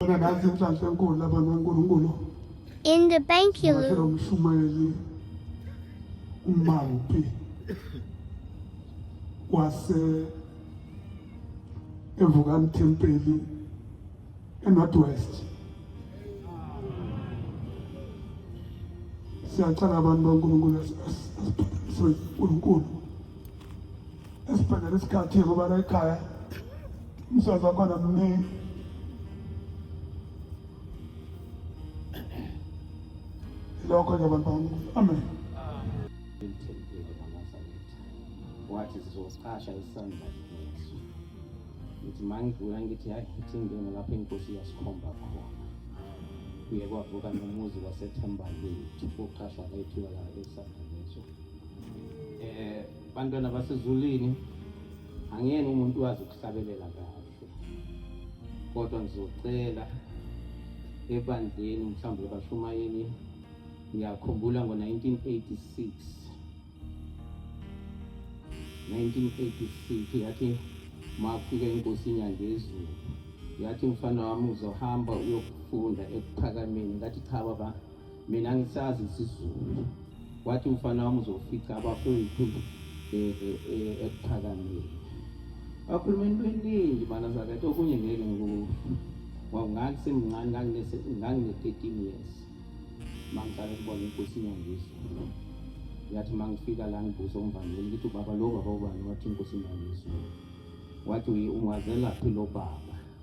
In the bank you umampi wase evukani thempeli enorthwest siyacela abantu bankulunkulu asiphakamiswe unkulunkulu esibhedlela isikhathi kubana ekhaya umsebenzi wakhona mningi lokho ke bantwana amen wathi sizosicasha isandla ngesu ngithi mangidlula ngithi hayi ngithi ngingena lapho inkosi iyasikhomba khona kuye kwavuka nomuzi wasethemba lethu koqashwa lethu yala esandla ngesu um eh, Bantwana basezulwini angiyena umuntu wazi ukuhlabelela kahle kodwa ngizocela ebandleni mhlawumbe ebashumayeli ngiyakhumbula ngo-1986 1986 yathi mafika inkosi inyangezulu yathi mfana wami uzohamba uyokufunda ekuphakameni ngathi cha baba mina ngisazi isizulu wathi umfana wami uzofica abafowethu ekuphakameni akhuluma into eningi bana zakathi okunye ngeke ngoku ngangisemncane ngangine-thirteen years mangiqala ukubona inkosi inyangizwe yathi uma ngifika la ngibuza umvangeli ngithi ubaba lo baba ubani wathi inkosi inyangizwe wathi ungazelaphi lo baba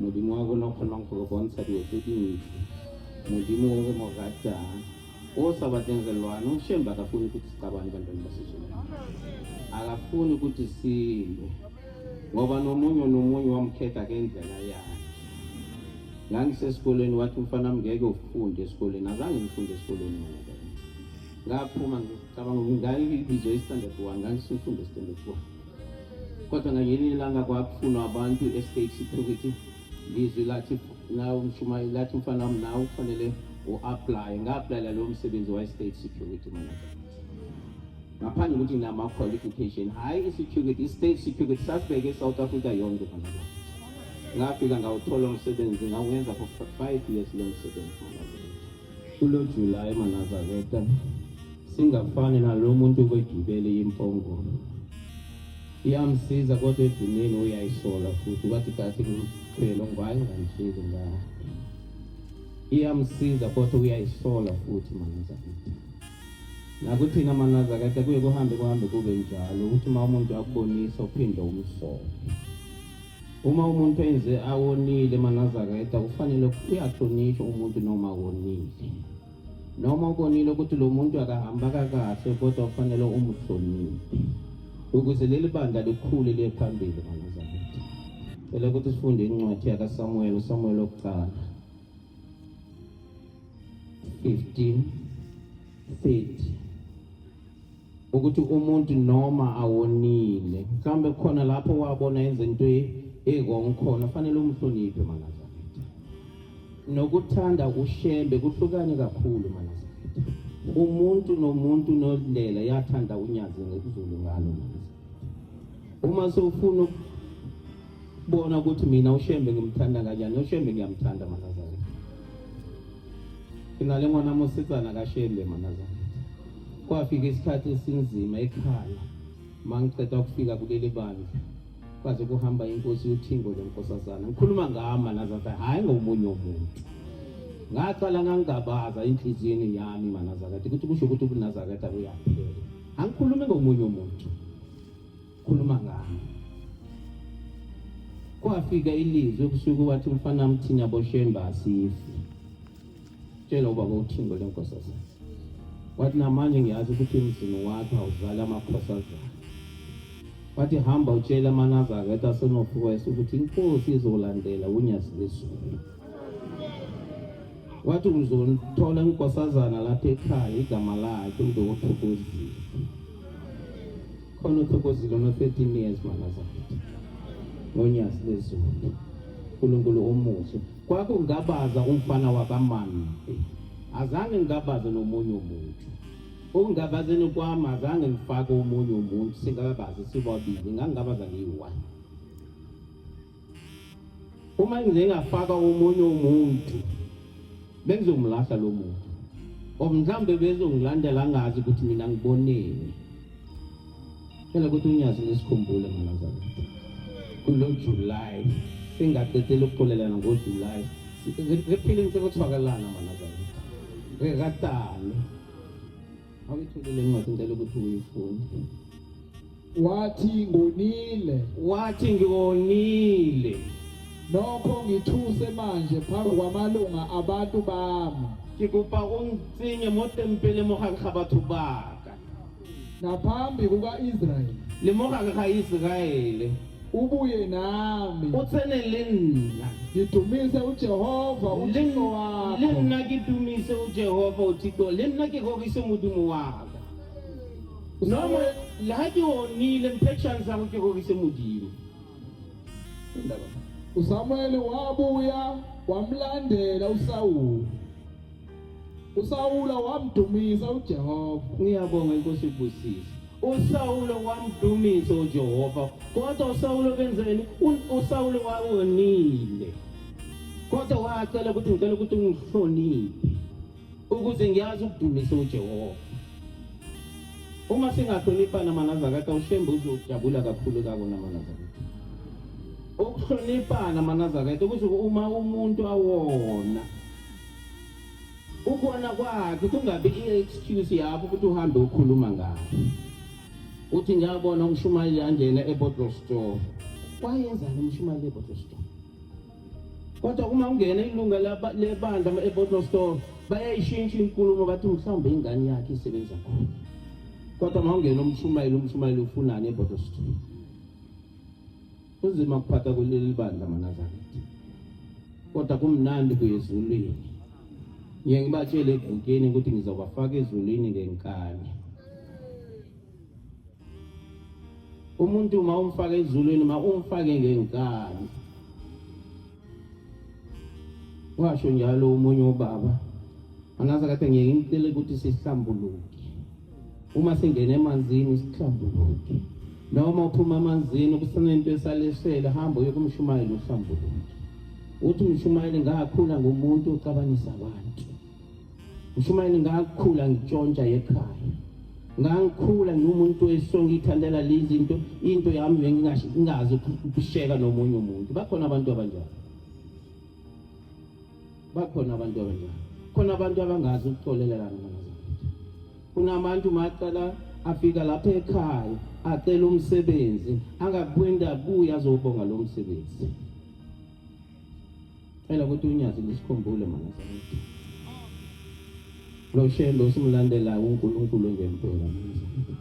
modimo wa rona o kgonang go re bontsha dilo tse dintle modimo o re mo ratang o sa batleng re lwane o shembe akafuni ukuthi sicabane bantwana basizulu akafuni ukuthi silwe ngoba nomunye nomunye wamkhetha ngendlela yakhe ngangisesikolweni wathi umfana wami ngeke ufunde esikolweni azange ngifunde esikolweni ngoba ngaphuma ngicabanga ukuthi ngayibizo i-standard one ngangisumfunde i-standard one kodwa ngayini ilanga kwakufunwa abantu estate security lizwi lathi nawe umshumayeli lathi mfana wami nawe kufanele u-aplaye nga-aplayela lowo msebenzi wa-state security manager ngaphandle ukuthi nginama-qualification hhayi i-security i-state security sasibeke e-south africa yonke manager ngafika ngawuthola umsebenzi ngawuwenza for five years lo msebenzi manager Kulo July Manazareta singafani nalo muntu obegibele impongo iyamsiza kodwa edinini uyayisola futhi wathi kathi ngimkhwele ngwaye ngangishili nga iyamsiza kodwa uyayisola futhi Manazareta nakuthina Manazareta kuye kuhambe kuhambe kube njalo ukuthi uma umuntu akubonisa uphinde umsole Uma umuntu enze awonile manazaketa kufanele uyahlonishwa umuntu noma wonile noma ubonile ukuthi lo muntu akahamba kakahle kodwa kufanele umuhloniphe ukuze leli bandla likhule liye phambili manazaketa cela ukuthi sifunde incwadi yakasamuweli usamuweli wokuqala 15 30 ukuthi umuntu noma awonile mhlawumbe khona lapho wabona yenza into e-wrong khona fanele umhloniphe manazaketha nokuthanda ushembe kuhlukane kakhulu manazaketha umuntu nomuntu nodlela yathanda unyazi ngekuzulu ngalo manazaketha uma sewufuna bona ukuthi mina ushembe ngimthanda kanjani ushembe ngiyamthanda manazane nginale ngwana mosetsana kashembe manazane kwafika isikhathi esinzima ekhaya mangiqeda ukufika kuleli bandla kwaze kuhamba inkosi uthingo lenkosazana ngikhuluma ngama nazatha hhayi ngomunye umuntu ngaqala ngangingabaza enhliziyweni yami manazakade ukuthi kusho ukuthi ubunazakade akuyaphela angikhulumi ngomunye umuntu khuluma ngami kwafika ilizwi ebusuku wathi umfana mthini aboshemba asifi tshela ubaba uthingo lenkosazana wathi namanje ngiyazi ukuthi emzini wakho awuzali amakhosazana wathi hamba utshela amanazareta asenofukweso ukuthi inkosi izolandela unyazi lezulu wathi uzolithola inkosazana lapha ekhaya igama lakhe uzokuthokozisa khona uthokozile ama 13 years mama zakithi ngonyasi lezulu uNkulunkulu omuhle kwakungabaza umfana wakamama azange ngabaze nomunye umuntu okungabazeni kwami azange ngifake omunye umuntu singakabazi sibabili ngangingabaza ngiyi-one Uma ngingafaka omunye umuntu bengizomlahla lo muntu or mhlawumbe bezongilandela angazi ukuthi mina ngiboneni phela ukuthi unyazi nesikhumbule manazana kulo July singaqedile ukuxolelana ngoJuly ziphile into ekuthiwakalana manazana regatane Awuyithulile incwadi ngicela ukuthi uyifunde. Wathi ngonile. Wathi ngonile. Nokho ngithuse manje phambi kwamalunga abantu bami. Ke kopa o ntsenye mo tempele mo gare ga batho baka. Naphambi kuka-Israyeli. Le mo gare ga Iseraele. ubuye nami utsene le nna ngidumise ujehova uthixo wakho le nna ke dumise ujehova uthixo le nna ke rorisa modimo waka noma le ha ke onile mphe chance ya go ke rorisa modimo usamuele wabuya wamlandela usawule USawula wamdumisa uJehova. Ngiyabonga inkosi ibusise. USawulo wamdumisa uJehova. Kodwa uSawulo benzeni? USawulo wawonile. Kodwa wacela ukuthi ngicela ukuthi ungihloniphe ukuze ngiyazi ukudumisa uJehova. Uma singahloniphana manazakati awushembe uzojabula kakhulu kako namanazakati. Ukuhloniphana manazakati ukuthi uma umuntu awona ukona kwakhe kungabi i-excuse yakho ukuthi uhambe ukhuluma ngakho uthi ngiyabona umshumayeli angena e-bottle store wayenzani umshumayeli e-bottle store kodwa uma ungena ilunga lebandla e-bottle store bayayishintsha inkulumo bathi mhlawumbe ingane yakhe isebenza khona kodwa uma ungena umshumayeli umshumayeli ufunani e-bottle store Kunzima kuphatha kuleli bandla manazakithi. Kodwa kumnandi kuyezulwini. Ngiye ngibatshele evikini ukuthi ngizobafaka ezulwini ngenkani. Umuntu uma umfaka ezulwini uma umfake ngenkani. washo njalo umunye ubaba angazi kade ngiye ngimtshele ukuthi sihlambuluke uma singena emanzini sihlambuluke noma uphuma emanzini kusenento esalesele hamba uye kumshumayeli uhlambuluke uthi umshumayeli ngakhula ngomuntu ucabanisa abantu Mshumayeli ngakhula ngitshontsha ekhaya. Ngangikhula ngiwumuntu wesonke ithandela lezi into into yami bengingazi ukusheka nomunye umuntu. Bakhona abantu abanjalo. Bakhona abantu abanjalo. Khona abantu abangazi ukuxolelelana nabazali. Kunabantu macala afika lapha ekhaya acela umsebenzi angakwenda kuya azobonga lo msebenzi. Phela ukuthi unyazi lisikhumbule mana sakuthi. Lo shembe usimlandela uNkulunkulu ngempela mana sakuthi.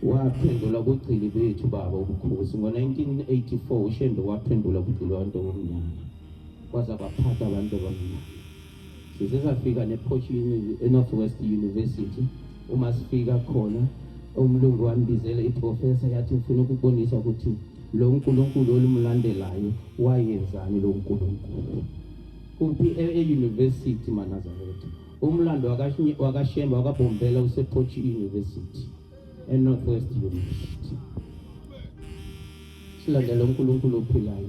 Waphendula kugcili bethu baba ubukhosi ngo-1984 ushembe waphendula kugcili abantu obumnyama kwaza kwaphatha abantu abamnyama size safika nephoshini enorth west university uma sifika khona umlungu wambizela iprofesa yathi ngifuna ukubonisa ukuthi lo nkulunkulu olumulandelayo wayenzani lo nkulunkulu kuphi e-university manazaretha umlando wakashemba wakabhombela usepochi university enorth west university silandela unkulunkulu ophilayo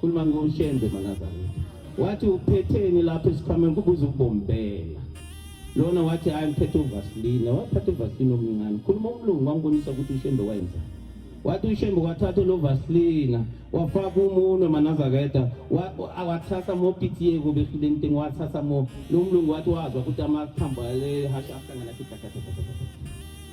Khuluma ngoShembe manazana. Wathi uphetheni lapha esikhwameni kubuza ukubombela. Lona wathi hayi ngiphethe uvaseline, waphatha uvaseline omncane. Khuluma umlungu wambonisa ukuthi uShembe wayenzani. Wathi uShembe wathatha lo vaseline, wafaka umunwe manazaketa, awathatha mo pitiyeko behlile nteng wathatha mo. Lo mlungu wathi wazwa ukuthi amathambo ale hasha ahlangana kitakatata.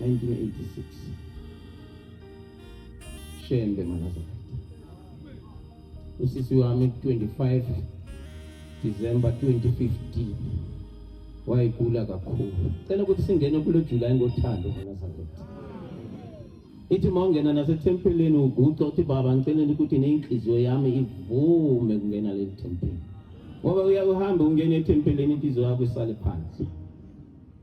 1986 shembe manazareta usisi wami ku-25 december 2015 wayigula kakhulu cela ukuthi singene kulo julayi ngothando manazareta ithi uma ungena nasethempelini uguca uthi baba ngiceleni ukuthi neyinhliziyo yami ivume kungena leli thempeli ngoba uyakuhambe ungena ethempelini inhliziyo yakho isale phansi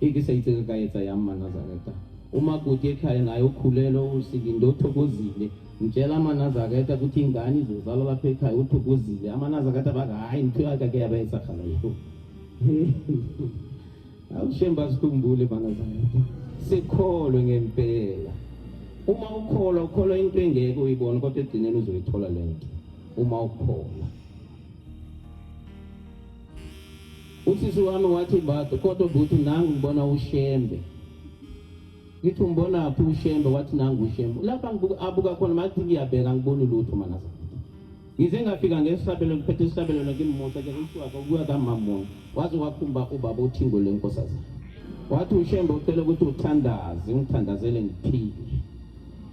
ikisayitse kayetsa yami manazareta umakoti ekhaya naye ukhulelwe usikinde uthokozile ngitshela amanazareta ukuthi ingane izozalwa lapha ekhaya uthokozile amanazareta bathi hhayi ngithiwa kake yabayesakhala yikho awushemba sikhumbule manazareta sikholwe ngempela uma ukholwa ukholwa into engeke uyibone kodwa egcineni uzoyithola le nto uma ukholwa Usisi wami wathi Mbadu, kodwa bhuti nangu ngibona uShembe. Ngithi umbona phi uShembe? Wathi nangu uShembe. Lapha ngibuka abuka khona mathi ngiyabheka ngiboni lutho mana. Ngize ngafika ngesabelo ngiphethe isabelo ngimmusa ke usuka kuya kamamona. Waze wakhumba ubaba uthingo lenkosazi. Wathi uShembe ucela ukuthi uthandaze, ngithandazele ngiphile.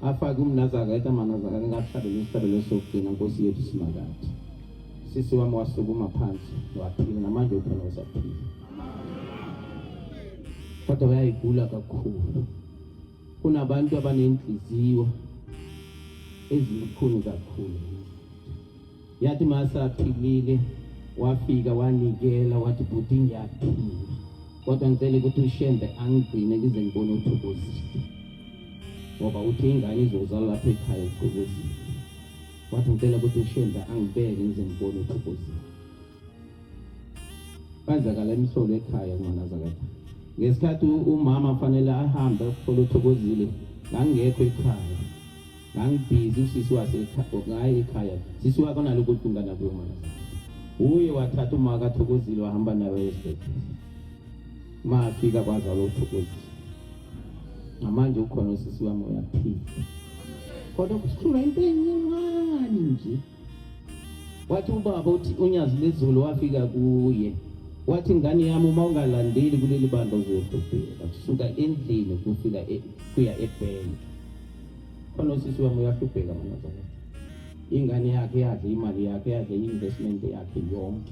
Afake umnazaka eta manazaka ngakuhlabela isabelo sokugcina Nkosi yethu simakathi. Sisi wami wasukuma phansi waphila, namanje ukhona usaphila, kodwa bayayigula kakhulu. Kunabantu abanenhliziyo ezibukhuni kakhulu. Yathi masaphilile wafika wanikela wathi bhuti ngiyaphila, kodwa ngicela ukuthi ushembe angigcine ngize ngibone uthokozile ngoba uthi ingane izozala lapha ekhaya uqokozile Wathi ngicela ukuthi uShembe angibeke ngize ngibone uThokozile. Kwenzakala imsolo ekhaya ngonazakatha. Ngesikhathi umama fanele ahambe ukuthola uThokozile ngangekho ekhaya. Ngangibhizi usisi wase ngaye ekhaya. Sisi wakho nalokho kungana kuyo manje. Uye wathatha umaka Thokozile wahamba naye esibhedlela. Uma afika kwazi alothokozisa. Ngamanje ukhona usisi wami uyaphila. Kodwa kusikhulwa into encane nje. Wathi ubaba uthi unyazi lezulu wafika kuye. Wathi ingane yami uma ungalandeli kuleli bandla uzohlupheka kusuka endlini kufika e, kuya ebhenki. Khona usisi wami uyahlupheka manazana. Ingane yakhe yadla imali yakhe yadla i-investment yakhe yonke.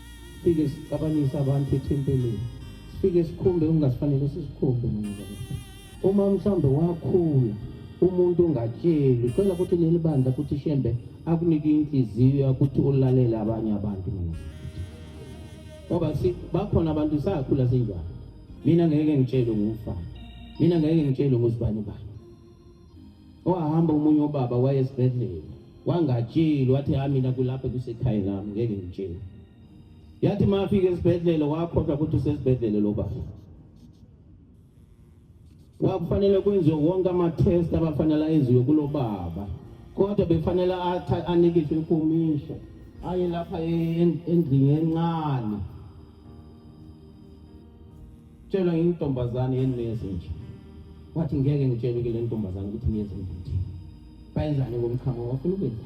Sifike sixabanise abantu ethempelini. Sifike sikhumbe okungasifanele sisikhumbe noma uma mhlambe wakhula umuntu ongatsheli cela ukuthi leli bandla ukuthi shembe akunike inhliziyo ukuthi ulalele abanye abantu mina ngoba bakhona abantu sakhula sinjalo mina ngeke ngitshele ngumfana mina ngeke ngitshele nguzibani bani Wahamba omunye ubaba waye esibhedlela wangatsheli wathi ha mina kulapha kusekhaya lami ngeke ngitshele. Yathi mafika esibhedlela wakhohlwa ukuthi usesibhedlela lo baba. Wakufanele kwenziwe wonke ama-test abafanele enziwe kulo baba kodwa befanele anikiswe ikomisha aye lapha endlini encane Tshela intombazane yenimeze nje. Wathi ngeke ngitshele ke le ntombazane ukuthi niyeze ngithi. Bayenzani ngomchamo wafuna ukwenza.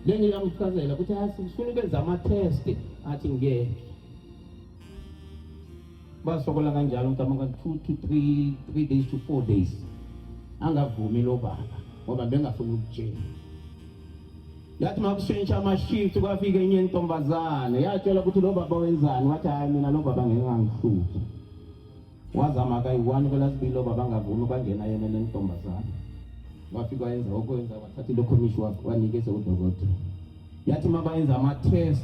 Lenye yamchazela ukuthi asifuna ukwenza ama test athi ngeke. Basokola kanjalo mntama ka 2 to 3 3 days to 4 days. Angavumi lo baba ngoba bengafuni ukutshela. yathi makushintsha amashift kwafika enye intombazane yatshela ukuthi lo baba wenzani wathi hayi mina lo baba ngeke angihluphe wazama kayi-one kwelasibili lo baba angavumi kwangena yena lentombazane wafika wayenza okwenza wathatha ilokhomishi wanikeza udokotela yathi uma bayenza ama-test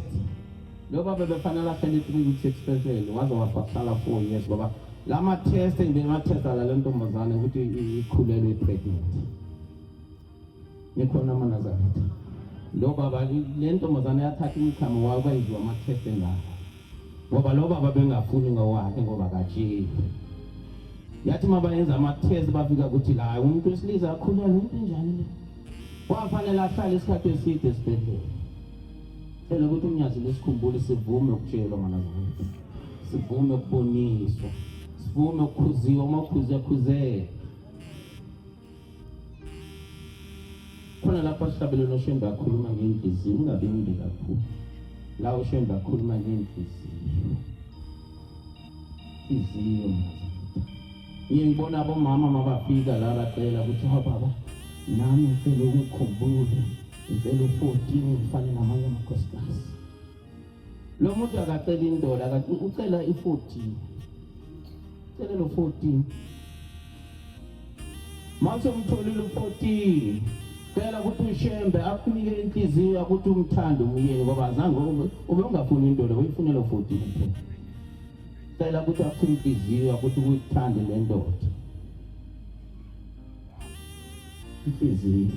lo baba befanele ahlele three weeks expensive waze wafahlala four years baba la ma-test engibeni ma-test ala le ntombazane ukuthi ikhulelwe i-pregnant Nikhona amaNazaretha. Lo baba le ntombazane yathatha umkhamo wayo kwayizwa amakhese ngayo. Ngoba lo baba bengafuni ngowakhe ngoba katsheli. Yathi uma bayenza amathezi bafika ukuthi la umuntu wesilisa akhulelwe into enjani le. Wafanele ahlale isikhathi eside esibhedlela. Phela ukuthi umnyazi lesikhumbule sivume ukutshelwa amaNazaretha. Sivume ukuboniswa. Sivume ukukhuziwa uma ukhuze khuzeke. khona lapho sihlabele noshembe akhuluma ngenhliziyo ungabi mde kakhulu la ushembe akhuluma ngenhliziyo inhliziyo ngiye ngibona abomama mabafika la bacela ukuthi hababa nami ngicela ukukhumbule ngicela u-fourteen ngifane namanye amakhosikazi lo muntu akacela indoda ucela i-fourteen ucela lo-fourteen mase umtholile u-14 cela ukuthi ushembe akunike inhliziyo ukuthi umthande umyeni ngoba azange ube ungafuni into le uyifunela u-14 kuphela cela ukuthi aphule inhliziyo ukuthi kuyithande le ndoda inhliziyo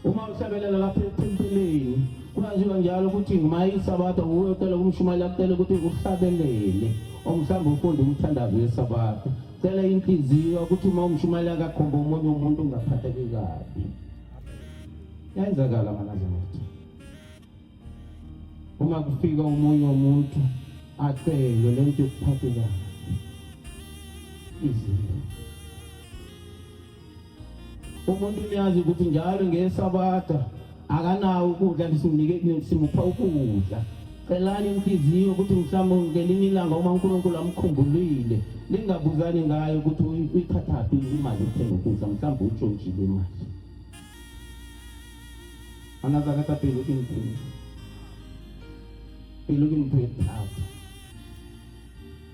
uma usebelela lapha ethempelini kuyaziwa njalo ukuthi ngumayisabatha uwe ucela kumshumayeli akucele ukuthi uhlabelele or mhlawumbe ufunde umthandazo wesabatha cela inhliziyo ukuthi uma umshumayeli akakhomba omunye umuntu ungaphatheki kabi yayenzakala manazamati uma kufika omunye umuntu acelwe le nto yokuphathekayo izinto umuntu uyazi ukuthi njalo ngesabatha akanawo ukudla simupha ukudla celani inhliziyo ukuthi mhlawumbe ngelinye ilanga uma unkulunkulu amkhumbulile lingabuzani ngayo ukuthi uyithathaphi imali uthenga ukudla mhlawumbe utshontshile imali anazakata pelo ke ntho pelo ke ntho e thata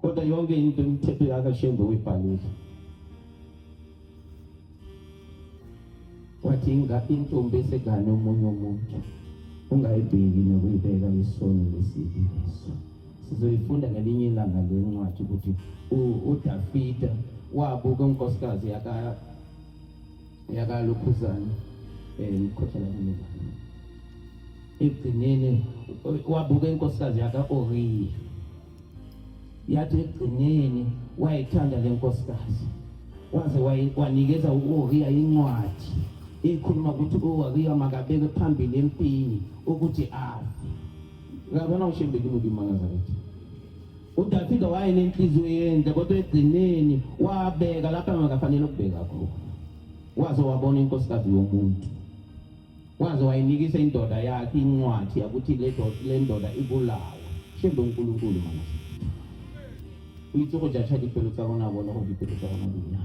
kodwa yonke into imithetho yakashembe uyibhalile wathi intombi esegane omunye umuntu ungayibheki nokuyibeka isono lesibi leso sizoyifunda ngelinye ilanga le ncwadi ukuthi udafida wabuka unkosikazi yakalukhuzane um eh, ikhohlala kunibani ekugcineni wabuka inkosikazi yaka-oriya yathi ekugcineni wayithanda le nkosikazi waze wanikeza u-oriya incwadi ikhuluma ukuthi u-oriya makabeke phambili empini ukuthi azi ngabona ushembeki mubi imangaza kithi udavida wayenenhliziyo yenhle kodwa egcineni wabeka lapho angakafanele ukubeka khona waze wabona inkosikazi yomuntu waze wayinikisa indoda yakhe incwadi yakuthi le ndoda ibulawe shembe unkulunkulu mana o itse go jacha dipelo tsa rona bone gore dipelo tsa rona dina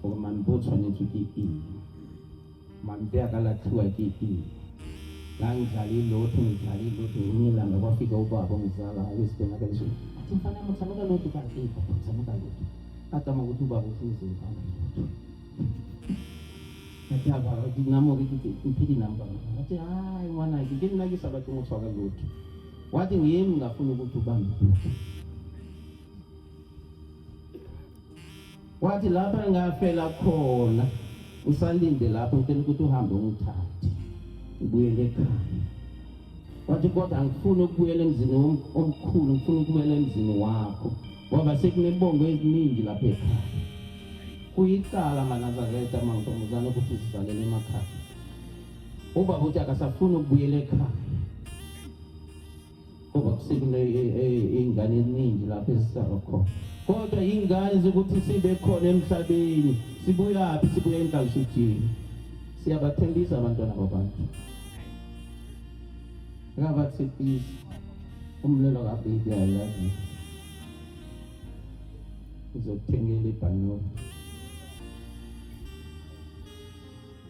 gore mampe o tshwanetswe ke eng mampe a ka latlhiwa ke eng ngangidlala ilotho ngidlala ilotho ngilanga kwafika ubaba ngizala ayosibona kanje athi mfana muthamuka lotho kanti muthamuka lotho atama ukuthi ubaba uhlezi ngifana lotho Ataba ke namo ke ke uphiki namba. Athi hayi mwana ke ke nna ke sa batle motho wa ka lotho. Wa teng e mna funa ukuthi ubambe futhi. Wathi lapha ngafela khona usalinde lapho ngicela ukuthi uhambe ungithathe ubuyele ekhaya. Wathi kodwa angifuni ukubuyela emzini wom- omkhulu ngifuna ukubuyela emzini wakho. ngoba sekunebongo eziningi lapha ekhaya kuyicala manazareta mantombazane ukuthi zizalele emakhaya ubaba uthi akasafuni ukubuyela ekhaya ngoba kusekuney'ngane eziningi lapho ezisaba khona kodwa yingane zokuthi sibe khona emhlabeni sibuyaphi sibuya enkalishujini siyabathembisa abantwana babantu ngabathi please umlelo kabibi ayazi uzokuthengela ibhanoyi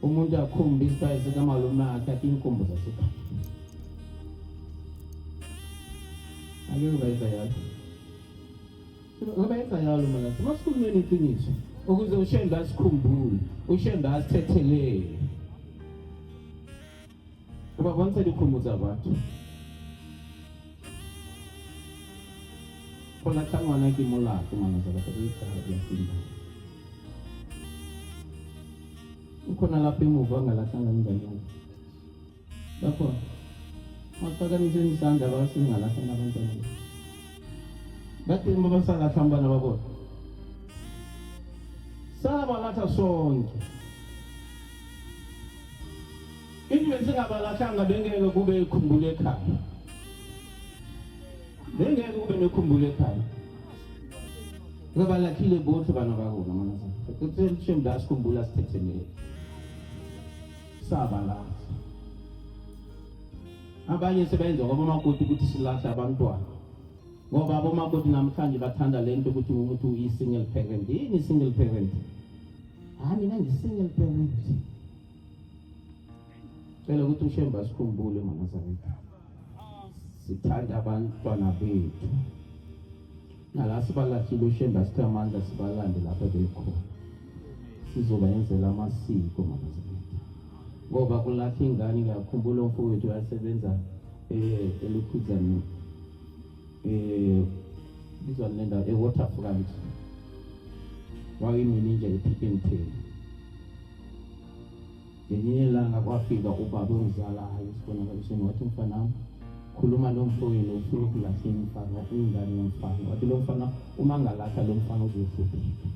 umuntu akhumbe isibhayi sikamalume akhe athi inkumbu zasekhaya ake ubayisa yalo ubayisa yalo mala masikhulumeni iqiniso ukuze ushembe asikhumbule ushembe asithethelele Kopa bontsha dikgomo tsa batho. Go latlha ngwana ke molato ngwana tsa batho e tsa ya simba. Ukhona lapho emuva ngalahlanga nginganyana. Lapho maphakamisa isandla basingalahlanga abantwana. Bathemba basalahla abantwana babona. Sala balahla sonke. Even singabalahlanga bengeke kube ikhumbula ekhaya. Bengeke kube nekhumbula ekhaya. Ngabalakhile bonke bana bakona manje. Kuthi shame la sikhumbula sithethe ne. Saba la. Abanye sebenza ngoba makoti ukuthi silahla abantwana. Ngoba abomakoti namhlanje bathanda lento ukuthi umuntu uyi single parent. Yini single parent? hayi mina ngisingle parent cela ukuthi ushembe asikhumbule mama zakwethu sithanda abantwana bethu nala sibalahlile ushembe asithe amandla sibalande lapho bekhona sizobayenzela amasiko mama zakwethu ngoba kulapha ingane ngiyakhumbula umfowethu wayesebenza um eh, elukhuzaneni eh bizwa le ndawo ewaterfront wayimini nje epick and pay ngelinye ilanga kwafika ubaba ongizalayo esibonakalisweni wathi mfanami khuluma nomfowenu ufuna ukulahla imfana ingane yomfana wathi lo mfana uma ngalahla lo mfana uzohlupheka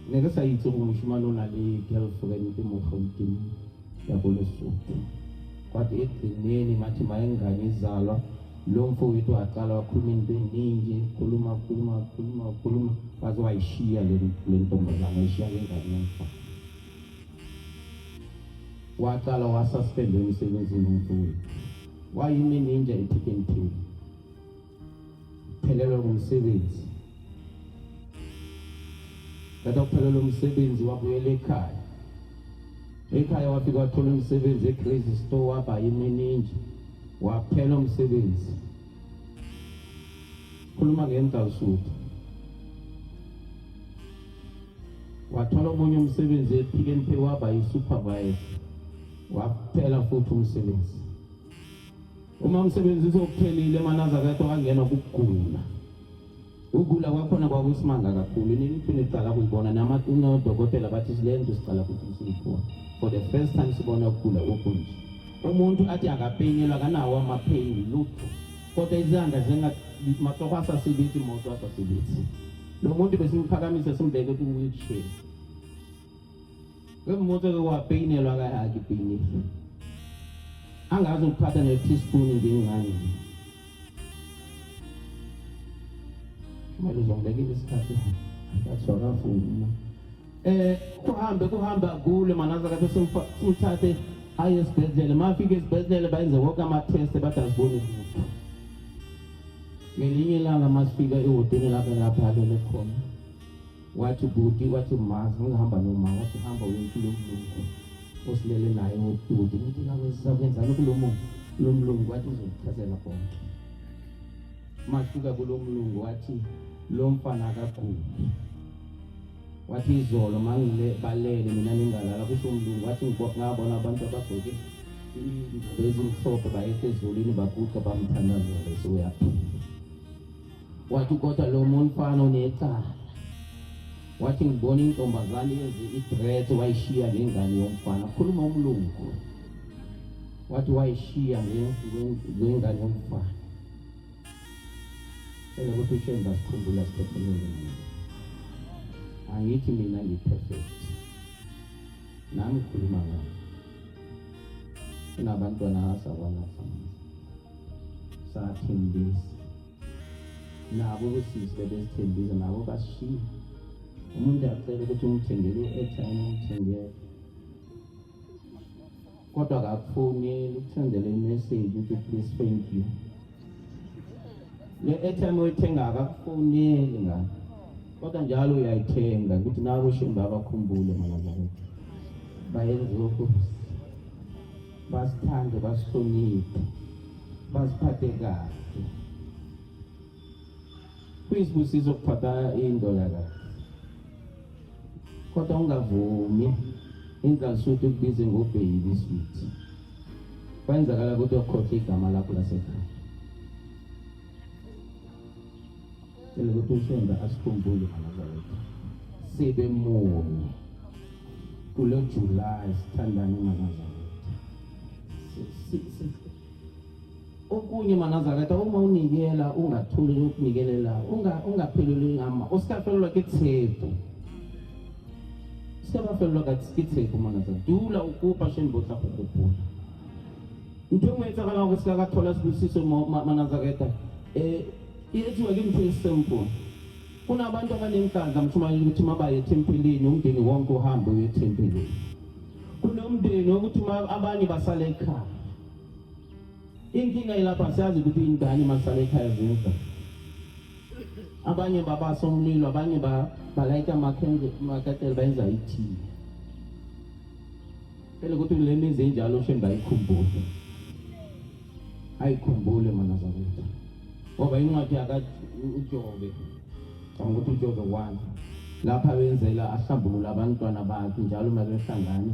ne ke sa itse gore moshimane o na le girlfriend mo gauteng ya ko lesotho kwathi ekugcineni mathi mayengane izalwa lo mfo wethu waqala wakhuluma into eningi khuluma khuluma khuluma khuluma waze wayishiya le ntombazana ayishiya le ngane yomfana waqala wasuspendwe emsebenzini umfo wethu wayinini nje ephikentini Phelelwa ngumsebenzi. Kade uphelelwa umsebenzi wabuyela ekhaya. Ekhaya wafika wathola umsebenzi eCrazy Store waba yimininji. Waphela umsebenzi. Khuluma ngentawusuthu. wathola omunye umsebenzi ephikeni pheki waba yi-supervisor waphela futhi umsebenzi Uma umsebenzisi okuphelile manaza kade wangenwa kugula. Ukugula kwakhona kwakusimanga kakhulu. Nini iphinde iqala kuyibona namathuna odokotela bathi silenze siqala kuyibona. For the first time sibona ukugula okunje. Umuntu athi akapenyelwa kanawo amapain lutho. Kodwa izandla zenga mahloko asasibithi imoto asasibithi. Lo muntu besimphakamise simbeke ku wheelchair. Ke mmotse ke wa peinelwa ka ha ke peine. Angazi ukuphatha ne teaspoon ngengane. Kumele uzongibekile isikhathi. Ngathiwa kafuna. Eh kuhambe kuhambe agule manaza kade simthathe aye esibhedlela. Mafike esibhedlela bayenze wonke ama test bathi aziboni lutho. Ngelinye ilanga masifika ehoteni lapho lapha alele khona. wathi bhuti wathi ma ngihamba noma wathi hamba uyokulo mlungu osilele naye wobhuti ngithi kakwenzani kulo muntu lo mlungu wathi uzokuchazela konke masuka kulo mlungu wathi lo mfana akaguli wathi izolo mangile balele mina ningalala kusho umlungu wathi ngabona abantu abagqoke bezimhlophe bayehla ezulwini baguqa bamthandazele soyaphila wathi kodwa lo mfana unecala wathi ngibona intombazane yenze idress wayishiya ngengane yomfana khuluma umlungu wathi wayishiya ngengane yomfana ela ukuthi ushemba sikhumbula siphefumule angithi mina ngiperfect nami khuluma ngayo sinabantwana asabalafa sathembisa nabo usisi bebesithembisa nabo basishiya umuntu acela ukuthi umthengele i-airtime umthengele kodwa akakufoneli ukuthandela imeseji ukuthi please thank you le airtime oyithengaka kufoneli ngani kodwa njalo uyayithenga ukuthi nabo shembe abakhumbule malazaretha bayenze okuhle basithande basihloniphe basiphathe kahle kuyisibusiso ukuphatha indoda kahle kodwa ungavumi inhlansuthi ukubize ngobheyibi sweet kwenzakala ukuthi okhohle igama lakho lasekhaya cela ukuthi ushembe asikhumbule manazawethu sibe munye kulo julayi sithandane manazawethu okunye manazakata uma unikela ungathuli ukunikelela ungapheleli ngama usikafelelwa ke tshepo sikabafelelwa ka ke tshepo manaza dula ukupa sheni botla go gopola ntho engwe e tsagalang go seka ka thola sebusiso manazaketa um e etsiwa ke ntho e simple kunabantu abanenhlanhla mshumayeli ukuthi mabaye ethempelini umndeni wonke uhambe uye ethempelini kunomndeni wokuthi abanye basale ekhaya Inkinga ilapha siyazi ukuthi ingane masale ekhaya zidla. Abanye babasa umlilo, abanye ba balayita amakhendle amakatela bayenza ithini. Phela ukuthi le mizi enjalo shembe bayikhumbule. Ayikhumbule mana zakwethu. Ngoba incwadi yaka uJobe. Ngicabanga ukuthi uJobe 1 lapha benzela ahlambulula abantwana bakhe njalo uma behlangana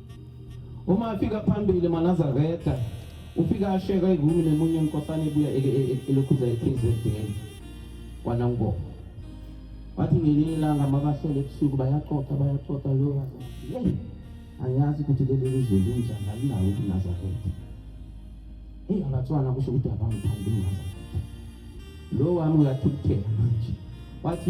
Uma afika phambili manazaretha ufika asheka ivumi nemunye inkosana ebuya elokhuza eKZN kwanangoma wathi ngelinye ilanga mabahlele ebusuku bayaxoxa bayaxoxa lo yeyi angiyazi ukuthi leli lizwe linjani alinawo ukunazaretha eyi abatswana kusho ukuthi abangithandi unazaretha lo wami uyathukuthela manje wathi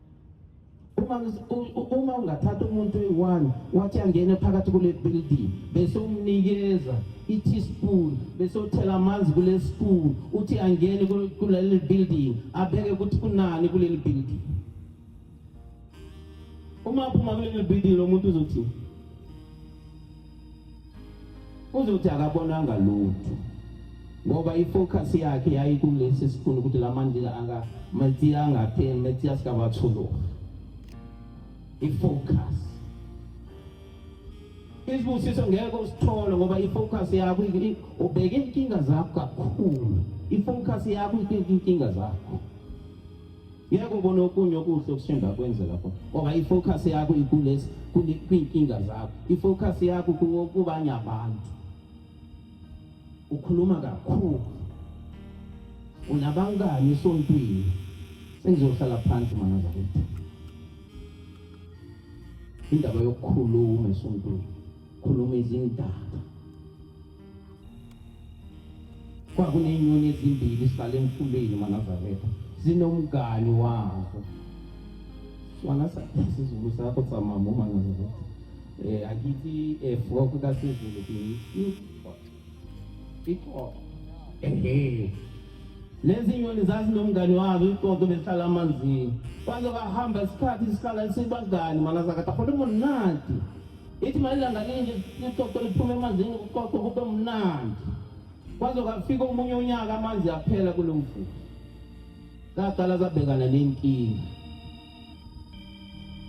uma ungathatha umuntu oyi-one wathi angene phakathi kule building bese umnikeza i-teaspoon bese uthela amanzi kule spoon uthi angene kuleli building abeke ukuthi kunani kuleli building uma aphuma kuleli building lo muntu uzothini uzothi akabonanga lutho ngoba ifocus yakhe yayikulesi sifuna ukuthi la mandila aka metsi angapheli metsi asikabathuluka ifocus isibusiso ngeke usithole ngoba ifocus yakho ubheke inkinga zakho kakhulu ifocus yakho inkinga zakho ngeke ubone okunye okuhle okusemva kwenze lapho ngoba i-focus yakho ikulesi kwiinkinga zakho i-focus yakho kubanye abantu ukhuluma kakhulu unabangani esontweni sengizohlala phansi mana zakwethu indaba yokukhuluma esontweni khuluma izindaba Kwakunenyoni ezimbili zihlale emfuleni Manazaretha zinomngani wazo sona sizulu sakho tsamama uManazaretha eh akithi eh frog kasizulu ixoxo ehe lezi nyoni zazinomngani wazo ixoxo behlala amanzini kwaze kwahamba isikhathi sihlala sibangani Manazakatha khona umonati Ithi mayilanga linje ixoxo liphume emanzini kuxoxo kube mnandi kwaze kwafika omunye unyaka amanzi aphela kulo mfula zaqala zabhekana nenkinga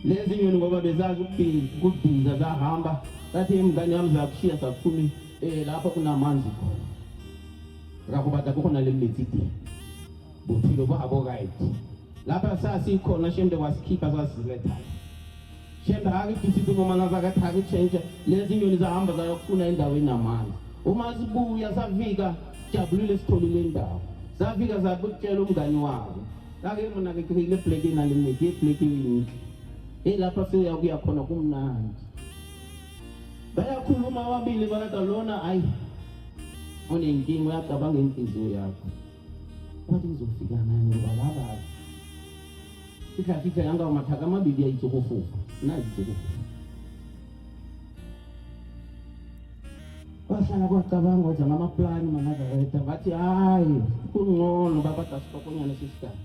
lezi nyoni ngoba bezazi ukubhiza zahamba zathi imngane yami zakushiya sakuphumi um eh, lapho kunamanzi khona rakubata kukhona le mithi idini bophilo babo right lapha sasikhona shembe wasikhipha sasiziletha shembe akidisiphi noma nazakathi akutshentshe lezi nyoni zahamba zayokufuna endaweni namanzi uma sibuya safika sijabulile sitholile indawo safika sakutshela umngani wabo ake mina ngikile black inalimeki iblack yini elapha siya kuya khona kumnandi bayakhuluma ababili balada lona ayi unenkinga uyacabanga inhliziyo yakho Kwathi ngizofika ngani ngoba laba ikhafitha yanga umathaka amabili yayitsokofufa nayi itsokofufa kwahlala kwacabanga ukuthi ngamaplani manazareta bathi hayi kungcono babadasipokonyana sisikhathi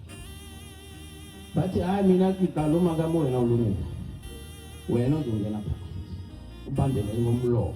bathi hayi mina kigalo makamu wena ulungile wena uzongena phakathi ubambele ngomlomo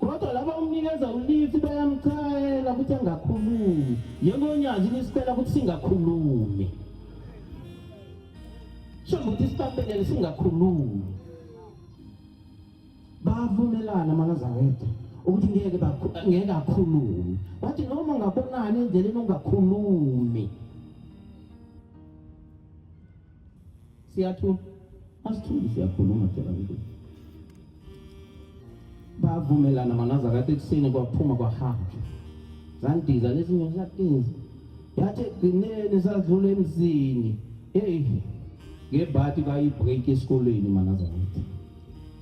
kodwa laba umnikeza ulithi bayamchayela ukuthi angakhulumi njengonyazi lisicela ukuthi singakhulumi shambe ukuthi isibambelele singakhulumi bavumelana amanazarete ukuthi ngeke ngeke akhulume wathi noma ngabonani endleleni ungakhulumi Siyathula. Asithuli siyakhuluma phela ukuthi. Bavumelana manaza kade ekuseni kwaphuma kwahanjwa. Zandiza lezinyo zatinza. Yathi ekugcineni sadlula emzini. Hey. Ngebhati bayibreak esikolweni manaza ukuthi.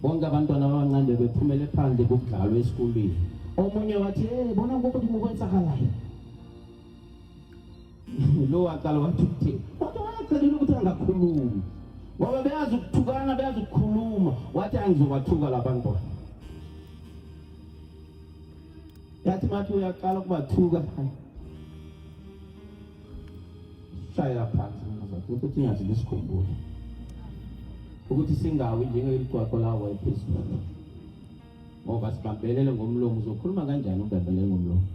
Bonke abantwana abancane bephumele phandle kudlalwa esikolweni. Omunye wathi, "Hey, bona ukuthi kukwenzakalayo." lo waqala wathi ukuthini kodwa wayecelile ukuthi angakhulumi ngoba beyazi ukuthukana beyazi ukukhuluma wathi angizobathuka labantwana yathi mathi uyaqala ukubathuka shayela phansi mnazakhe ukuthi ingathi ngisikhumbule ukuthi singawi njengeligcwaqo lawo wayephezulu ngoba sibambelele ngomlomo uzokhuluma kanjani ubambelele ngomlomo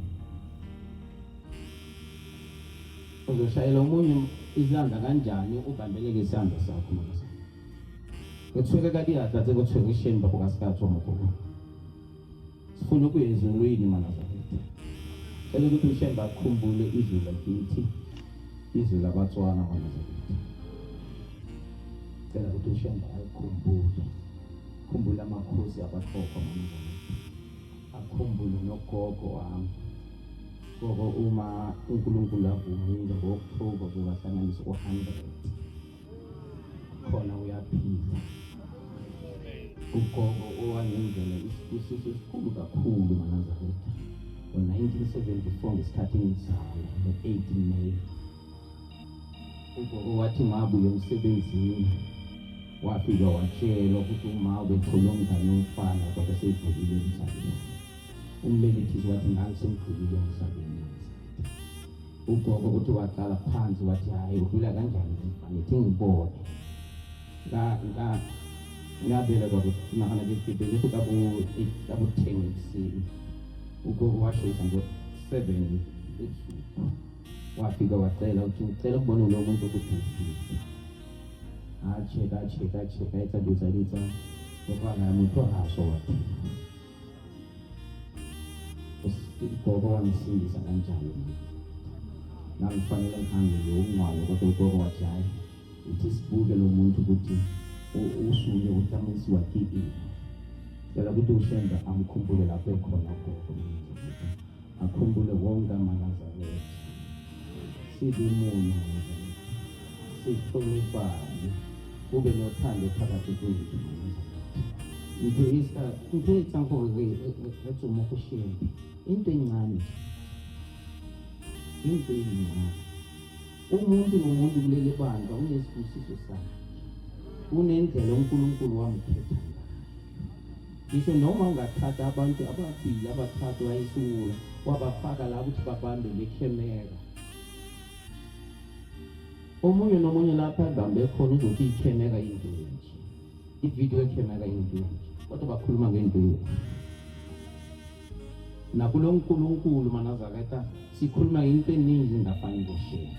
uzoshayela omunye isandla kanjani ubambeleke isandla sakho mama sakho kuthiweke kati yatatse kuthiweke isheni babo kasikatho mkhulu sifuna ukuyezwa ulwini mana zakithi cela ukuthi usheni bakhumbule izwi lakithi izwi labatswana mana zakithi cela ukuthi usheni bakhumbule Khumbula amakhosi abahlokho manje. Akhumbule nogogo wami. Gogo uma uNkulunkulu avumile ngo-October kuzahlanganisa u-100. Khona uyaphila. Ugogo owangenzela isibusiso esikhulu kakhulu manazaretha. Ngo-1974 ngesikhathi ngizalwa ngo-18 May ugogo wathi mabuye emsebenzini wafika watshela ukuthi uma ubethole umngane womfana kodwa seyivukile emhlabeni umbelethisi wathi ngangisemdlulile emhlabeni ugogo ukuthi waqala phansi wathi hhayi udlula kanjani ngithi ngibone ngabela kwakunahana kibele kabo kabo ten ekuseni ugogo washisa ngo-seven ebusuku wafika wacela ukuthi ngicela ukubona lo muntu ukuthi ngifike ache kache kache kaitsa dutsa dutsa okwana motho ga a sowa ugogo wamsindisa kanjalo nangifanele ngihambe nje ukungcwalo kodwa ugogo wathi hhayi uthi sibuke lo muntu ukuthi usuke utamisi wakikile cela ukuthi ushembe amkhumbule lapho ekhona ugogo akhumbule wonke amanazane ethu sibimunye sihloniphane kube nothando phakathi kwethu ngiyisa ngiyisa ngokuthi ethi uma kushiya into encane into encane Umuntu nomuntu kuleli bandla unesibusiso sakhe, unendlela uNkulunkulu wamkhetha ngisho noma ungathatha abantu ababili abathathu wayisiwula wabafaka la ukuthi babambe le khemera omunye nomunye lapha abambe khona uzothi ikhemera into nje ividiyo ekhemera into nje kodwa bakhuluma ngento yethu nakulo nkulunkulu manazareta sikhuluma into eningi ngaphandle ngoshembe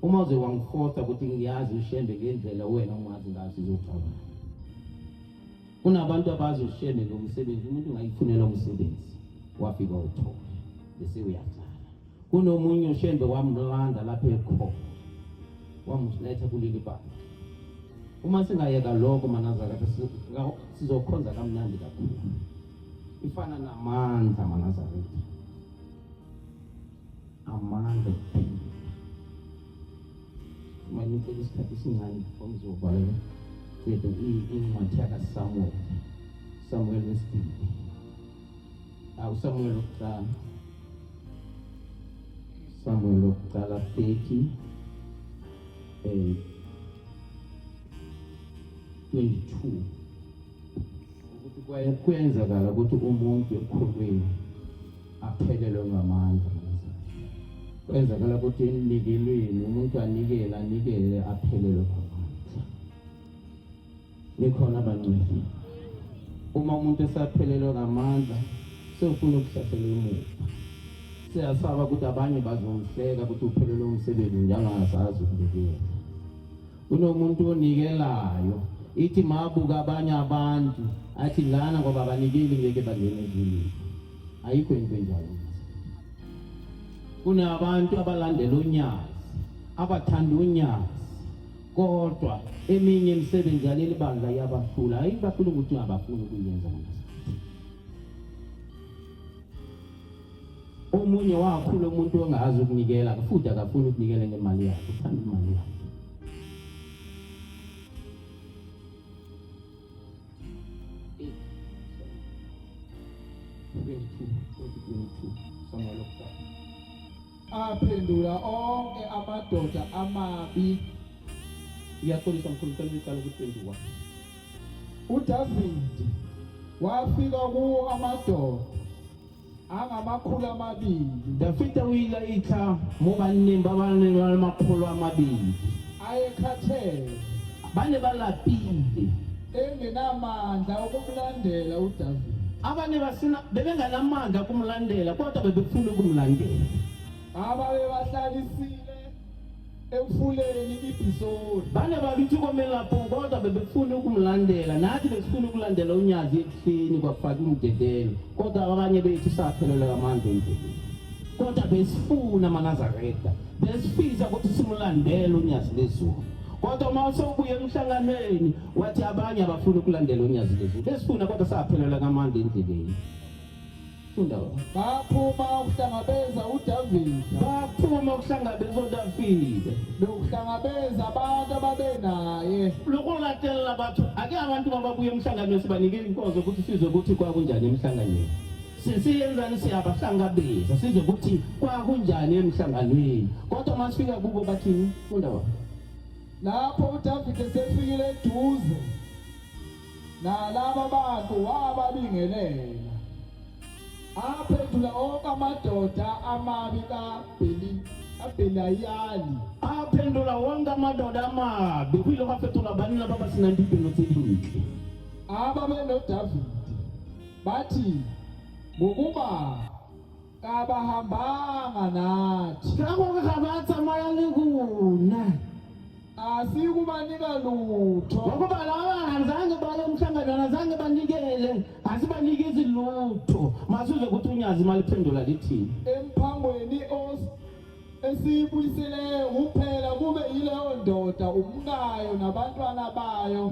uma uze wangifosa ukuthi ngiyazi ushembe ngendlela wena ungazi ngayo sizocabanga kunabantu abazi ushembe ngomsebenzi umuntu ungayifunela umsebenzi wafika uthola bese uyahlala Kunomunye ushembe wamlanda lapha ekho wamuletha kuleli banga. Uma singayeka lokho manazaka sizokhonza kamnandi kakhulu. Ifana namandla manazaka. Amandla uma ngicela isikhathi esincane ngizobhalela yethu incwadi yakasamuweli samuweli wesibili usamuweli wokuqala usamuweli wokuqala 30 um 22 ukuthi kuyenzakala ukuthi umuntu ekhulwini aphelelwe ngamandla kwenzakala ukuthi enikelweni umuntu anikele anikele aphelelwe Nikhona bangcwele. Uma umuntu esaphelelwa ngamandla sewufuna ukuhlasela emuva. Siyasaba ukuthi abanye bazomhleka ukuthi uphelelwe umsebenzi njengangasazi ukubikela. Kunomuntu onikelayo ithi mabuka abanye abantu athi lana ngoba abanikeli ngeke bangene ezulwini. Ayikho into enjalo. Kunabantu abalandela unyazi, abathanda unyazi kodwa eminye imisebenzi yaleli bandla iyabahlula hayi bahlula ukuthi ungabafuni ukuyenza omunye wakhula umuntu ongazi ukunikela futhi akafuni ukunikela ngemali yakhe uthanda imali yakhe Twenty-two, twenty-two, somewhere like that. aphendula onke amadoda amabi ngiyaxolisa mkhulu ngicela ngiqala ukuphenduka udavide wafika kuwo amadoda angamakhulu amabili dafida o ile a itlha mo banneng ba ba neng ba le makgolo a mabedi ayekhathele Ba ne ba lapile. Engenamandla okumlandela uDavide. Abanye basina bebenganamandla okumlandela kodwa bebefuna ukumlandela. Ababebahlalisile emfuleni ibhisori bane bakithi komelapho kodwa bebefuna ukumlandela nathi besifuna ukulandela unyazi ekuseni kwafaka umdedelo kodwa abanye bethu saphelelwa amandla endleleni kodwa besifuna amanazareta besifisa ukuthi simulandele unyazi lezulu Kodwa uma usobuya emhlanganweni wathi abanye abafuni ukulandela unyazi lezi. Besifuna kodwa saphelelwa kamandi endleleni. Funda baba. Baphuma ukuhlangabeza uDavide. Baphuma ukuhlangabeza uDavide. Nokuhlangabeza abantu ababenaye. Lokulatela abantu ake abantu mababuye emhlanganweni sibanikele inkonzo ukuthi sizwe ukuthi kwakunjani emhlanganweni. siyenzani siyabahlangabeza sizwe ukuthi kwakunjani emhlanganweni kodwa uma sifika kubo bathini undaba lapho udavide sefikile eduze nalaba bantu wababingelela aphendula onke amadoda amabi kabhenayali aphendula wonke amadoda amabi kuyilokho afethula bani laba basinandibheno tse dintle aba benodavide Bathi ngokuba kabahambanga nathi. Ngakho ke abathi amayale kuna. Asikubanika lutho. Ngokuba laba azange baye umhlangano azange banikele asibanikezi lutho. Masuze ukuthi unyazi imali phendula lithini. Emphangweni os esiyibuyiseleyo kuphela kube yileyo ndoda umkayo nabantwana bayo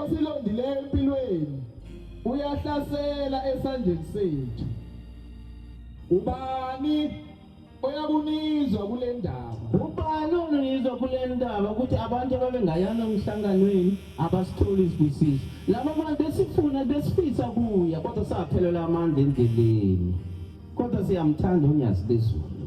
osilondileyo empilweni uyahlasela esandleni sethu ubani oyakunizwa kule ndaba ubani onizwa kule ndaba ukuthi abantu ababengayana emhlanganweni abasitholi isibusiso laba bantu besifuna besifisa kuya kodwa saphelelwa amandla endleleni kodwa siyamthanda unyazi lezulu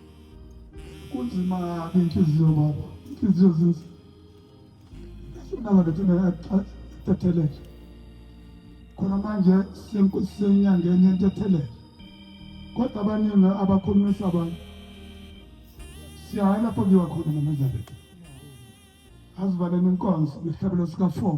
kunzima kabi inhliziyo baba inhliziyo zizi sinabalethi ntethelele khona manje sinyangeni yentethelele kodwa abaningi abakhulumisa abantu siyaye lapho kuyiwa khona namandla bethu azivaleni inkonzo ngehlabelo sika-four